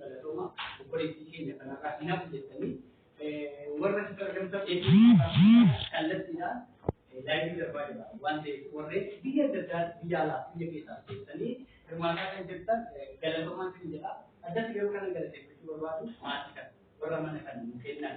Galatooma obboleettii keenya kanarraa hin hafu jettanii warra sitti argamtan kallattiidhaan laayivii darbaa jira waan ta'eef warreen biyya adda addaa biyya alaa biyya keessaa keessanii hirmaataa kan jirtan galatoomaa kan jedha addatti garuu kana galateeffachuu barbaadu maatii kan warra mana kan nu kennan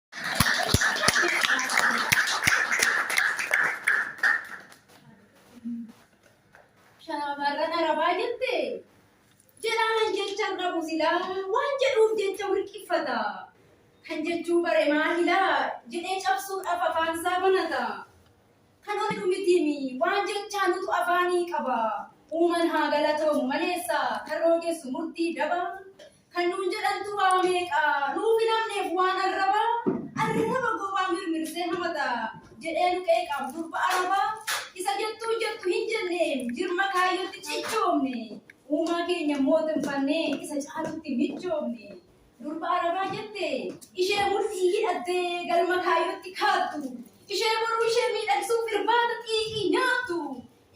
Shaamarran arabaa jette jedhaan jechaan dhabu silaa waan jedhuuf jecha wirqiffata. Kan jechuu bare maahilaa jedhee cabsuudhaaf afaan isaa banata. Kan hojjetu mitiimi waan jechaa nutu afaanii qaba. Uuman haa galatoomu maleessa kan roogessu murtii daba. Kan nuun jedhantu waa meeqa nuuf hin hafneef waan arrabaa Arraba gowwaa mirmirsee hamata jedhee nu qeeqaaf durba arabaa Isa jettuu jettu hin jenneem jirma kaayyootti cichoomne Uumaa keenya mootinfannee isa caalutti michoomne Durba arabaa jette ishee mudhii hidhattee galma kaayyootti kaattu Ishee boruu ishee miidhagsuuf irbaata xiiqii nyaattu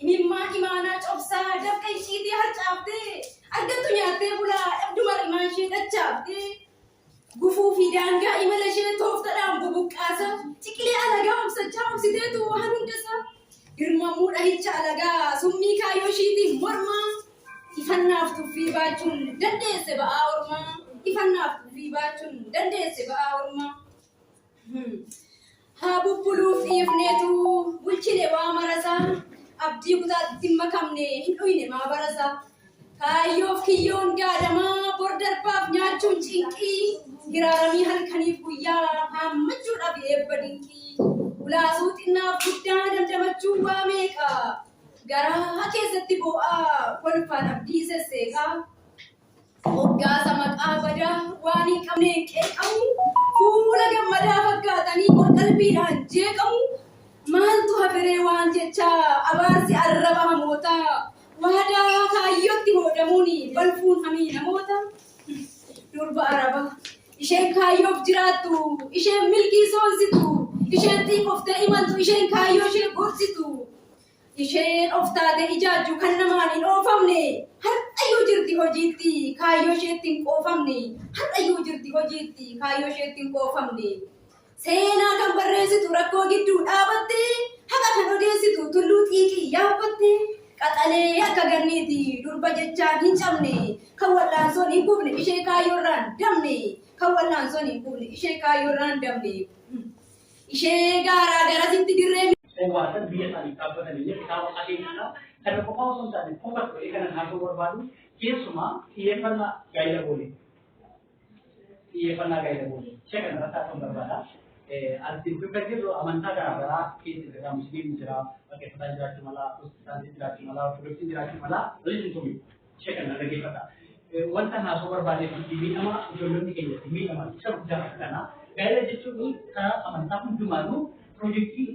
Imimmaan imaanaa cobsaa dafqa ishiitii harcaaftee argattu nyaattee bulaa dhabdu mar'imaa ishee dachaaftee gufuu fi daangaa imala ishee tooftadhaan bubuqqaasa ciqilee alagaa obsachaa obsiteetu waan hundasaa girmamuu dhahicha alagaa summii kaayyoo ishiitiin mormaa ifannaaf tuffii baachuun dandeesse ba'aa ormaa ifannaaf tuffii baachuun dandeesse ba'aa ormaa. Haa bubbuluuf dhiifneetu bulchine waa marasaa abdii kutaatti hin makamne hin dhuyne maa barasaa kaayyoof kiyyoon gaadamaa bor darbaaf nyaachuun cinqii hiraaramii halkaniif guyyaa haammachuudhaaf eebba dinqii ulaasuu xinnaaf guddaa dandamachuu waa meeqa garaa keessatti boo'aa kolfaan abdii sesseeqaa Moggaasa maqaa badaa waan hin qabneen qeeqamu, fuula gammadaa fakkaatanii qorqalbiidhaan jeeqamu, maaltu haferee waan jechaa abaarsi arraba hamootaa, waadaa kaayyootti hoodamuun balfuun hamii namoota. Durba araba, isheen kaayyoof jiraattu, isheen milkii soonsitu, isheen xiiqoftee imaltu, isheen kaayyooshee gorsitu. Isheen of taatee ijaajju kan namaan hin oofamne har'ayyuu jirti hojiitti kaayyoo isheetti hin qoofamne har'ayyuu jirti hojiitti kaayyoo isheetti hin qoofamne seenaa kan barreessitu rakkoo gidduu dhaabatte haqa kan odeessitu tulluu xiiqii yaabbatte qaxalee akka ganniiti durba jechaan hin cabne kan wal'aansoon hin kufne ishee kaayyoorraan damne kan wal'aansoon hin kufne ishee kaayyoorraan damne. ishee gaaraa garasitti dirree Owwaasan biyya isaaniif dhaabbatan illee kitaaba akeekisaa kana qofaa osoo hin taane qofa ta'ee kana naasuu barbaadu keessumaa xiyyeeffannaa gaa'ila boole. Xiyyeeffannaa gaa'ila boole. Ishee kana irratti haasa'uun barbaada. As gidduu kan jirru amantaa garaa garaa keessa jira. Musliimni jira, waaqeffataan jiraachuu mala, pirotestaantiin jiraachuu mala, ortodoksiin jiraachuu mala, waliin hin tumin. Ishee kana dhaggeeffata. Wanta haasoo barbaadeef itti miidhama ijoollonni keenya itti miidhaman isa guddaa kana. Gaa'ela jechuun karaa amantaa hundumaanuu pirojektii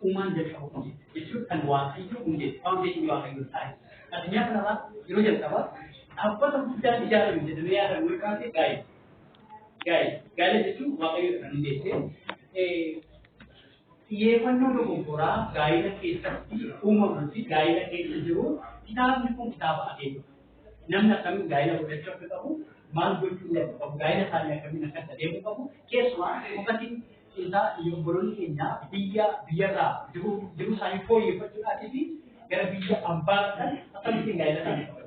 uumaan jalqabu jechuun kan waaqayyo hundee faawundeeshinii waaqayyo taa'e. Addunyaa kanarraa yeroo jalqabaa dhaabbata guddaan ijaarame jedhamee yaadamu yoo jiraate gaa'ela. Gaa'ela. Gaa'ela jechuun waaqayyo kan hundeessee Xiyyeeffannoo dogoggoraa gaa'ila keessatti uumamuu fi gaa'ila keessa jiru kitaabni kun kitaaba akeekudha. Namni akkamiin gaa'ila godhachuu akka qabu, maal gochuu akka qabu, gaa'ila isaanii akkamiin akka itti adeemuu qabu, keessumaa dhugaatiin isaa obboloonni keenya biyya biyyarraa jiru jiru isaanii fooyyeffachuudhaatii fi gara biyya ambaa dhaqan akkamittiin gaa'ila isaanii qabu.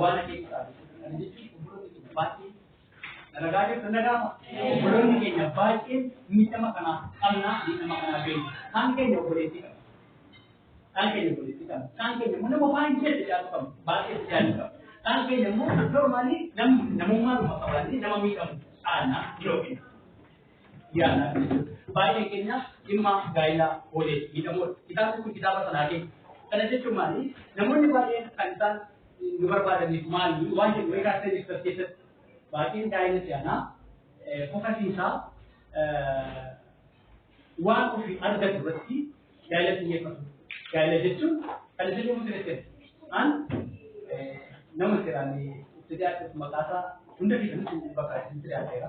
waan ati ibsaati. Kana jechuun obboloonni keenya baay'een dalagaa jirtu na gaafa. Obboloonni keenya baay'een miidhama kanaa qabna, miidhama kanaa beekna. Kaan keenya obboleettii qabna. Kaan keenya obboleettii qabna. Kaan keenya immoo nama waan jedhu jaalu qabna. Baay'ee jaalu qabna. Kaan keenya immoo normaalii namummaa dhuma qabaannee nama miidhamu aanna yookiin yaalaa kan jiru. Baay'ee keenya dhimma gaa'ilaa oolee miidhamoodha. Kitaabni kun kitaaba sanaa keessa. Kana jechuun maali? Namoonni baay'een kan isaan nu barbaadaniif maali? Waan jedhu wayii kaasee jirtu as keessatti. Baay'een gaa'ila si'anaa fokasiisaa waan ofii argatu irratti gaa'ila xiyyeeffatu. Gaa'ila jechuun kan isin yommuu sirreessan an nama siraan itti dhiyaatu maqaasaa hunda keessatti bakka isin sirreesseera.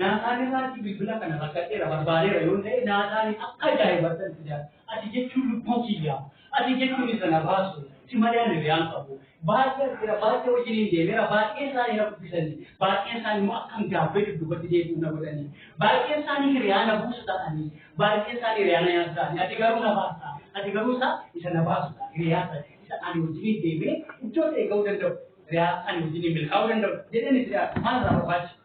Naataan irraatti bilbila kana rakkadheera barbaadeera yoo ta'e naataan akka ajaa'ibattan itti jira. Ati jechuun lubbuu kiyyaa. Ati jechuun isa na baasu. Si malee ani hiriyaan qabu. Baay'ee jira baay'ee wajjiniin deemeera baay'een isaanii na dubbisanii baay'een isaanii immoo akkan gaabbee dudduubatti deebi'u na godhanii baay'een isaanii hiriyaa na buusu ta'anii baay'een isaanii hiriyaa na nyaatu ta'anii ati garuu na baasta ati garuu isa isa na baasu ta'a hiriyaa ta'e isa ani wajjiniin deemee iddoo ta'e ga'uu danda'u hiriyaa ani wajjiniin milkaa'uu danda'u jedheen itti dhiyaatu maal irraa barbaachisa.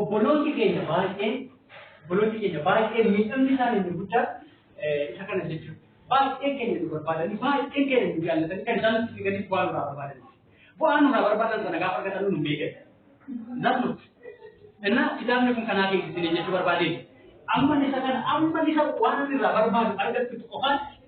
obboloonni keenya baay'een obboloonni keenya baay'een miidhamni isaanii inni guddaa isa kana jechuudha. Baay'een keenya nu barbaadanii baay'een keenya nu jaallatanii kan isaan nutti figanii bu'aa nurraa barbaadan. Bu'aa nurraa barbaadan sana gaafa argatan nu beekan. Namni እና kitaabni kun kanaa keessatti jechuu barbaadeen amma isa kana amma isa waan irraa barbaadu argattu qofaan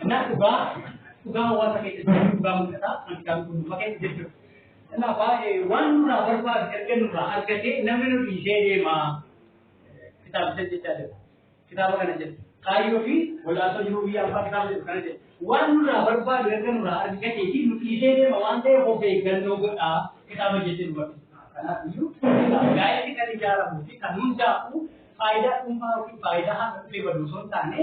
Kanaaf dhugaa dhugaa hawaasa keessa jiru dhugaa mul'ataa kan kitaaba qulqulluu keessa jechuudha. Kanaaf waan nurraa barbaadu erga nurraa argatee namni nu dhiisee deemaa kitaabicha jechaa jira. Kitaaba kana jedhu kaayyoo fi wal'aansoo jiruu biyya abbaa kitaaba jedhu kana jedhu. Waan nurraa barbaadu erga nurraa argatee fi nu dhiisee deema waan ta'eef of eeggannoo godhaa kitaaba jechuu nu barbaada. Kanaaf iyyuu gaa'elli kan ijaaramuu fi kan hundaa'u faayidaa dhuunfaa yookiin faayidaa haqa dhufee badu osoo hin taane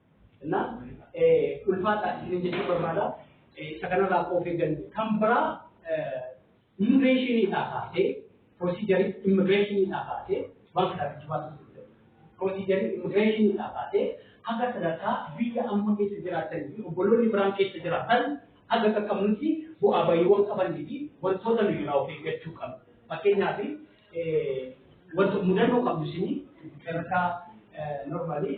እና ulfaataa isinin jechuu barbaada. Isa kanarraa akka of eeggannu. Kan biraa immigireeshiniidhaa kaasee piroosiijarii immigireeshiniidhaa kaasee waan kana jechuu baasuuf danda'u. Piroosiijarii immigireeshiniidhaa kaasee haga sadarkaa biyya amma keessa jiraatanii fi obboloonni biraan keessa jiraatan haga qaqqabnutti bu'aa bayiiwwan qabanii fi wantoota nuyi irraa of eeggachuu qabnu. Fakkeenyaaf wanta mudannoo qabnu isinii sadarkaa normaalii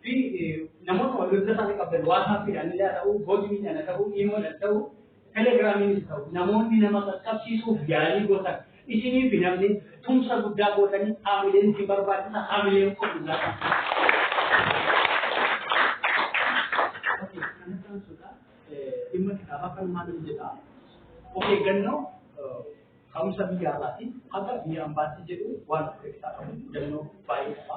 fi namoota wal bilbila isaanii qabdan waasaappiidhaan illee haa ta'u, bootmiidhaan haa ta'u, iimoodhaan ta'u, telegiraamiinis ta'u namoonni nama qaqqabsiisuuf yaalii gootan isinii fi namni tumsa guddaa gootanii haamileen isin barbaachisa haamileen kun guddaa kan. Dhimma kitaabaa kan maal jedha? Of eeggannoo ka'umsa biyya alaatiin haga biyya ambaatti jedhu waan of keessaa qabu hubannoo baay'ee qaba.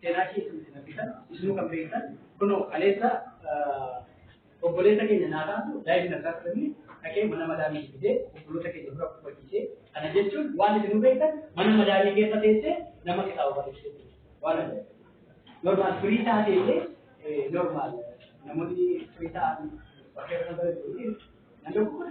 seenaa kee isin isin argitan isinuu kan beektan kunoo kaleessa obboleessa keenya naa taatu daa'imni na taasisanii dhaqee mana madaamii fidee obboloota keenya dura kufachiisee kana jechuun waan isinuu beektan mana madaamii keessa teessee nama kitaaba barreessee waan ajaa'ibaa normaal firii taatee illee normaal namoonni firii ta'an bakka irra barreessu namni kun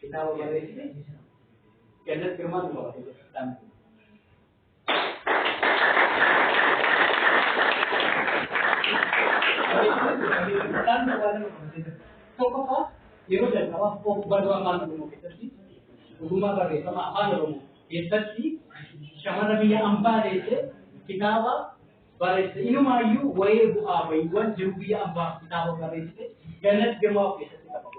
Kitaaba barreessite Gannat Girmaa nu qabate jechuudhaan. Tokkoffaa yeroo jalqabaaf of barruu afaan Oromoo keessatti ogummaa barreeffama afaan Oromoo keessatti shamarra biyya ambaa deessee kitaaba barreessite. Inumaayyuu wa'ee bu'aa ba'iiwwan jiru biyya ambaa kitaaba barreessite Gannat Girmaa of keessatti qabate.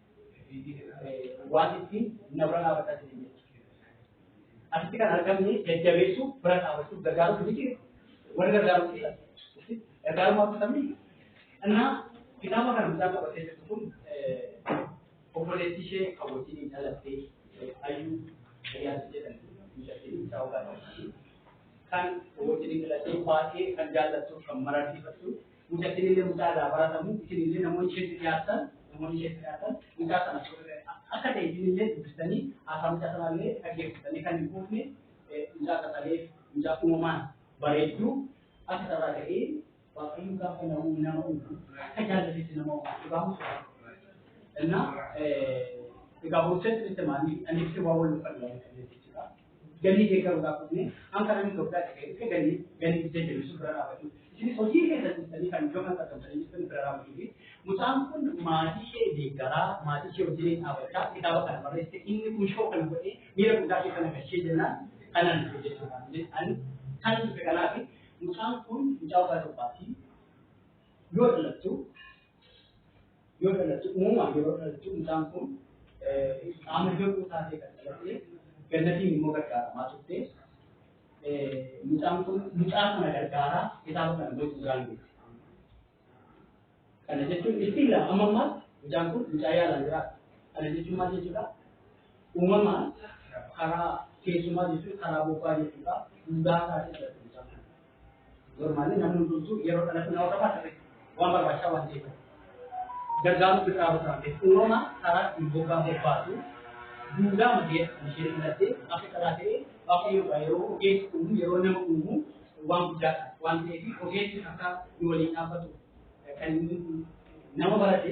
waan ittiin na bira dhaabbataa jiran jechuudha. Asitti kan argamne jajjabeessuu bira dhaabbachuuf gargaaruuf miti warri gargaaruuf jira. Gargaarummaa akkamiin? Innaa kitaaba kana mucaa qabatee jirtu kun obboleettii ishee kan wajjin dhalattee ayyuu ayyaansi jedhan mucattiin mucaa ogaa kan wajjin dhalattee baay'ee kan jaallattu kan mararsiifattu Mucattiin illee mucaa irraa baratamu isin illee namoonni isheetti dhiyaatan namoonni isheetti dhiyaatan mucaa sana akka ta'e isin illee dubbistanii haasaa mucaa sanaa illee dhaggeeffatanii kan hin quufne mucaa qaxalee mucaa uumamaan bareedduu akka sarara ta'ee waaqayyo gaafa nama uumu nama uumu akka jaallatetti nama uumu dhugaa mucaa. Innaa egaa boorseetti itti maanii anniifti waa wal uffannaa jechuudha. galii deeggaruudhaaf dhufne hanga namni Itoophiyaa dhaqee dhufe galii galii biyya jiru sun bira dhaabachuu isinis hojii keessa dhiistanii kan iddoo kanatti argamtanii jirtan bira dhaabachuu fi mucaan kun maatii ishee deeggaraa maatii ishee wajjin dhaabachaa kitaaba kana barreesse inni kun shoo kana godhee miira guddaa keessa na galchee jennaan kanan dhufe jechuudha ani kan dhufe kanaaf mucaan kun mucaa waggaa torbaati yoo dhalattu yoo dhalatu uumamaan yeroo dhalatu mucaan kun qaama hir'uu taatee kan dhalatte gannatiin immoo gargaaramaa turte. Mucaan kun mucaa kana gargaaraa kitaaba kana gosa duraan beekte. Kana jechuun itti ilaa amma ammaatti mucaan kun mucaa yaalaan jiraata. Kana jechuun maal jechuudha? Uumamaan karaa keessumaa jechuun karaa bobbaa jechuudha. Duudhaa isaa keessatti Normaalli namni hundumtuu yeroo dhalatu nama qofa ta'e waan barbaachisaa waan ta'eef. Gargaaruu biraa biraa ta'e uumama karaa ittiin bobaa bobbaatu duudaa magee ishee filattee akka karaa ta'e waaqayyoodha yeroo ogeessi uumu yeroo nama uumu waan guddaadha waan ta'eef ogeessi akka nu waliin dhaabbatu kan nama barate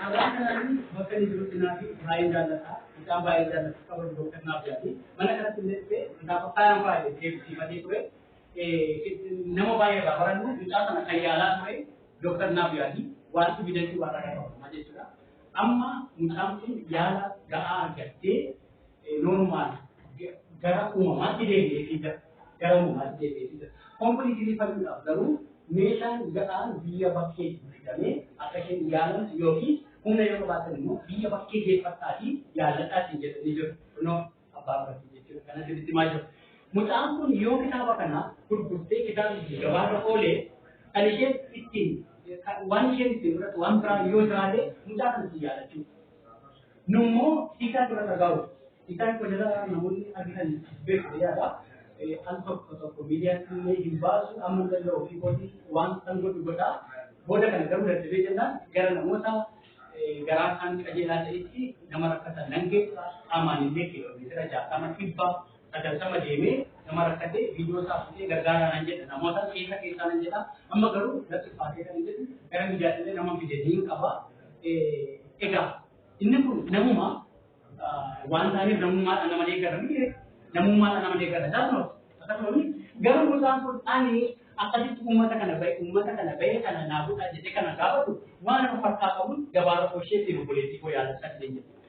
Carraa kanaan bakka inni jirutti naafi baay'ee jaallata. Mucaa baay'ee jaallatu qaban gooftan naaf yaadi. Mana kanatti illee dhufe gaafa faayaan baay'ee deebisiifatee ture. Nama baay'ee irraa barannu mucaa sana kan yaalaa ture dooktar naaf yaadi. Wanti bidachuu waan irraa qabu jechuudha. Amma mucaan kun yaala ga'aa argattee normaal gara uumamaatti deebi'ee fiiga gara uumamaatti deebi'ee fiiga kompiliitilii fayyuudhaaf garuu meeshaan ga'aan biyya bakkee bitame akka isheen yaalamtu yookiin humna yoo qabaatan immoo biyya bakkee geeffadhaatii yaaladhaatiin jedhanii jiru kunoo abbaa bartii jechuudha kana sirriitti maa jiru. Mucaan kun yoo kitaaba kana gurgurtee kitaabni gabaarra oolee kan isheen ittiin waan isheen ittiin fudhatu waan biraa yoo jiraate mucaa kanatti yaadachuu Nu immoo isaan dura dhagaa'u. Isaan kun irraa namoonni argitan beeku yaada. Al tokko tokko miidiyaatti illee hin baasu amma hin danda'u ofii kootii waan san godhu godha. Booda kana garuu dadhabee jennaan gara namoota garaa isaan qajeelaa ta'etti nama rakkatan nan geessa qaamaan illee kiiloomeetira jaatama dhibba sagaltama deemee nama rakkate viidiyoo isaa fudhee gargaaraa nan jedha namoota keessa keessaa nan jedha amma garuu natti ulfaatee kan jedhu gara miidiyaatilee nama fide ni qaba. Egaa inni kun namuma waan ta'aniif namummaadhaan nama deeggaranii namummaadhaan nama deeggara daanoo akkasumas garuu mucaan kun ani akkasitti uummata kana bahe uummata kana bahe kana naa godhaa jedhee kana gaafatu waan of harkaa qabuun gabaabaa koo isheetiin obboleettii koo yaadachaa jireenya.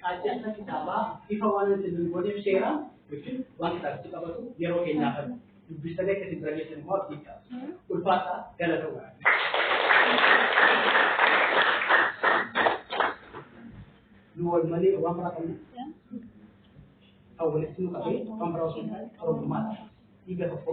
Qaacceessa kitaabaa ifa waan isin hin gooneef seera jechuun waan kitaabichi qabatu yeroo keenyaa kan dubbistanii akka isin bira geessan immoo abdii qaba. Ulfaataa galatoomaa. nu wal malee waan biraa qabna. Kan walitti nu qabee waan biraa osoo hin taane Oromummaadha. Dhiiga tokko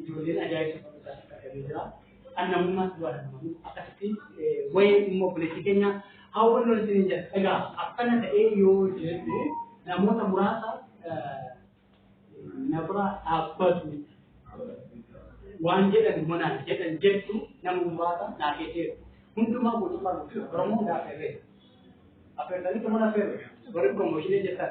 Ijoolleen ajaa'ibsa fakkataa akka argamee jira. Kan namummaas bu'aa danda'amu akkasitti wayee dhimma obboleettii keenya hawwannu isiniin jedha. Egaa akkana ta'ee yoo jedhu namoota muraasa na bira dhaabbatu waan jedhan monaan jedhan jettu nama muraasa naa keesseera. Hundumaa guutummaa guutuu Oromoo naa affeerree. Affeertanii tumana affeerre. Warri piroomooshinii jettan.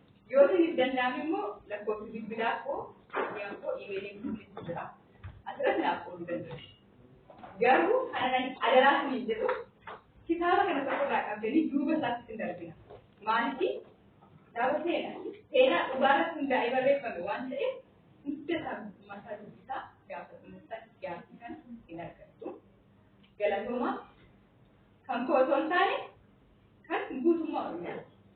Yoo isiniif danda'ame immoo lakkoofsi bilbilaa koo miidiyaan koo iimeeliin koo keessa jira. Asirratti naaf qooduu dandeessu. Garuu kanan adaraa isiniin jedhu kitaaba kana tokko irraa qabdanii duuba isaatti isin darbina. Maaliif kitaaba seenaa seenaa dhugaa irratti hundaa'ee barreeffame waan ta'eef hunda isaa guutummaa isaa dubbisaa gaafa dhuunfaan gaaffii kana hin argattu. Galatoomaa kan koo osoo hin taane kan guutummaa Oromiyaati.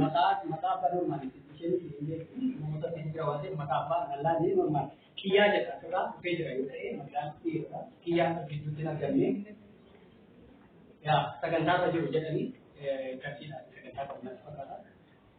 maqaa maqaa abbaa normaali isheen namoota keessa jira waan ta'eef maqaa abbaa dhalaa ni normaali kiyyaa jedha irraa dhufee jira yoo ta'e maqaan dhiirota kiyyaa gidduutti hin argamne yaa sagantaa irra jiru jedhanii qarshii dha sagantaa kan natti fakkaata.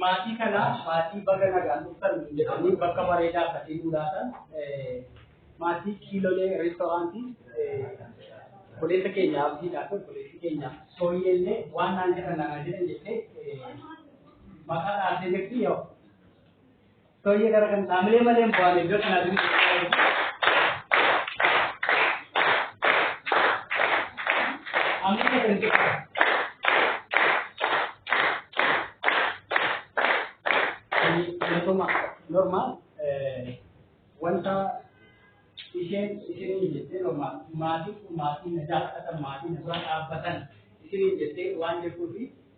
Maatii kana maatii baga nagaan dhuftan jedhanii bakka bareedaa akkasii nu laatan maatii kiilolee reestoraantii obboleessa keenya abdiidhaa fi obboleessi keenya sooyyee illee waan naan jedhan naan jedhan jettee maqaa dhaabdee jirti yoo Baay'ee gara kan dhaamilee malee hin bu'aan iddoo kanaa fi Amma kan ta'e Wantooma normaal wanta isheen isiniin jettee normaal maatii maatii na jaalatan maatii na bira dhaabbatan isiniin jettee waan jirtuufi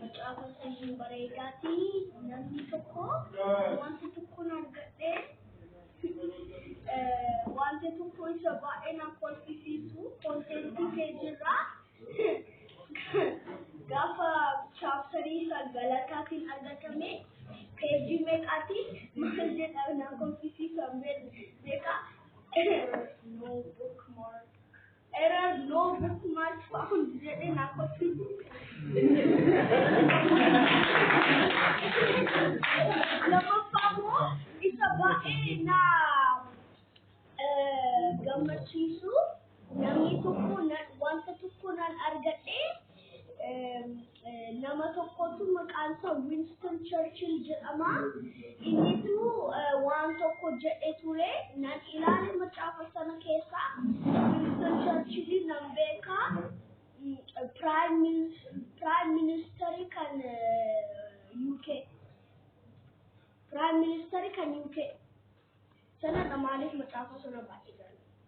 Macaafa sanyii bareedaati namni tokko wanta tokkoon argadhee wanta tokko isa baay'ee na kolfisiisu konteentii peejirraa gaafa chaaptarii isa galataatiin argatame peejii meeqaatiin maal jedha na kolfisiisan beekaa Error no bookmark. Error no bookmark found jedhee naa kochuu Lammaffaa immoo isa baay'ee naa eh, gammachiisu Namni tokko wanta tokko nan argadhee nama tokkotu maqaan isaa Winston Churchill jedhama. Innitu waan tokko jedhe ture nan ilaale macaafa sana keessa Winston Churchill nan beeka. Prime Minister kan UK. Prime Minister kan UK. Sana maaliif macaafa sana baay'ee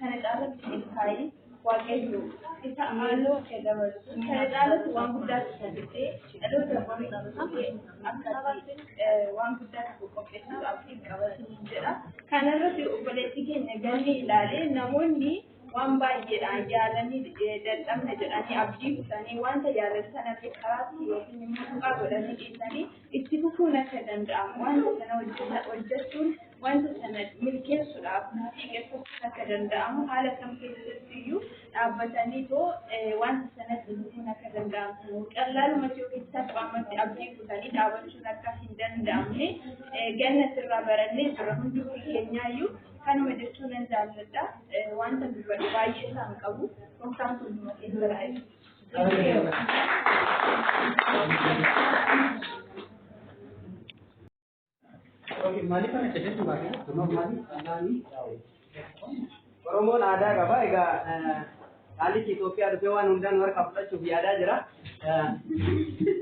Kana caalatti milkaa'ee waaqayyo isa amaaloo kee dabalu. Kana caalatti waan guddaa tajaajiltee dhaloota boriif akkatti waan guddaa tokko qopheessuuf abdiin qabatanii jedha. Kana irratti obboleessi keenya galmee ilaalee namoonni waan baay'eedhaan yaalanii dadhabna jedhanii abdii kutanii wanta yaalan sanatti karaatti yookiin immoo tuqaa godhanii dhiisanii Itti fufuun akka danda'amu, wanta sana hojjeta, hojjechuun wanta sana milkeessuudhaaf murtii qeessachuun akka danda'amu, haala kam keessatti iyyuu dhaabbatanii too eh, wanta sanatti fufuun akka danda'amu, qallaalumatti yookiin salphaamatti abdii kutanii dhaabachuun akka hin danda'amne eh, gannatti irraa barannee jirra. Hundumti keenyaa iyyuu kanuma jechuu nan jaalladha. Eh, Wanta dubbadhu baay'ee isaan qabu. Gooftaan hunduma keessa haa eebbisu. Oromoon aadaa qaba. Egaa dhaallichi Itoophiyaa dhufee waan hundaa nu harkaa fudhachuuf yaadaa jira.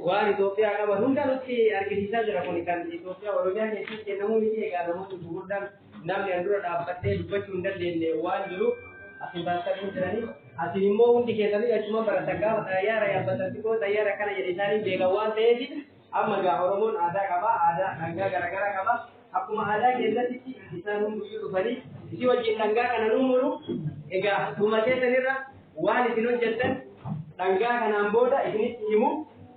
Waan Itoophiyaa qaban hunda nutti argisiisaa jira. Kun kan Itoophiyaa Oromiyaa keessatti kennamuu miti. Egaa namoonni gurguddaan namni an dura dhaabbattee dubbachuu hin dandeenye waan jiruuf asin barattanii jiranii asin immoo hundi keessanii achuma baratan gaafa xayyaara yaabbatatti koo xayyaara akkana jedhe isaanii beekan waan ta'eef amma gaa oromoon aadaa qaba aadaa dhangaa garaagaraa qaba akkuma aadaa keessatti isaan hunduyyuu dhufanii isii wajjin dhangaa kana nu muru egaa dhuma keessanirra waan isin hojjettan dhangaa kanaan booda isinitti himu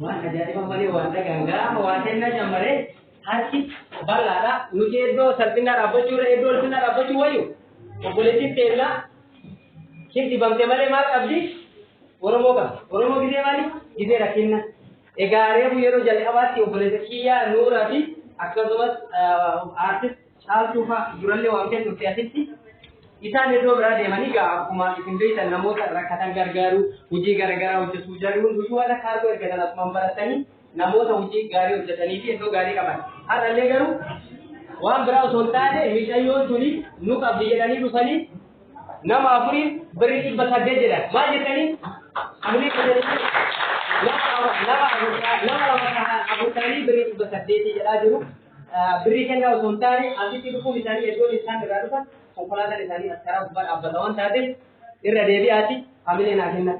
Waan ajaa'iba malee waan dhagaan gaafa waa kennaa jammaree harki bal'aadha. Nuti iddoo salphinaa dhaabbachuu irra iddoo ulfinaa dhaabbachuu wayyu obboleettiin teellaa hin dibamte malee maal qabdi? Oromoo qabdi. Oromoo gidee maali? Gidee rakkinna. Egaa reefu yeroo jalqabaatti obboleessa kiyyaa Nuuraa fi akkasumas aartist Caaltuu faa durallee waamtee turte asitti. Isaan iddoo biraa deemanii gaa akkuma isin beektan namoota rakkatan gargaaruu, hojii garaagaraa hojjetuu jarri hunduu warra kaargoo ergatan asumaan baratanii namoota hojii gaarii hojjetanii fi iddoo gaarii qaban. Har'allee garuu waan biraa osoo hin taane miicayyoon tuni nu qabdi jedhanii dhufanii nama afuriin birrii dhibba saddeet jedhan. Maal jettanii? Birrii saddeet nama afur ta'anii birrii dhibba saddeetii jedhaa jiru. Birrii kennaa osoo hin taane asitti dhufuun isaanii iddoon isaan irraa dhufan konkolaataan isaanii as karaa gubbaa dhaabbata waan taateef irra deebi'aati hamilee naa kenna.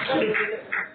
Thank you.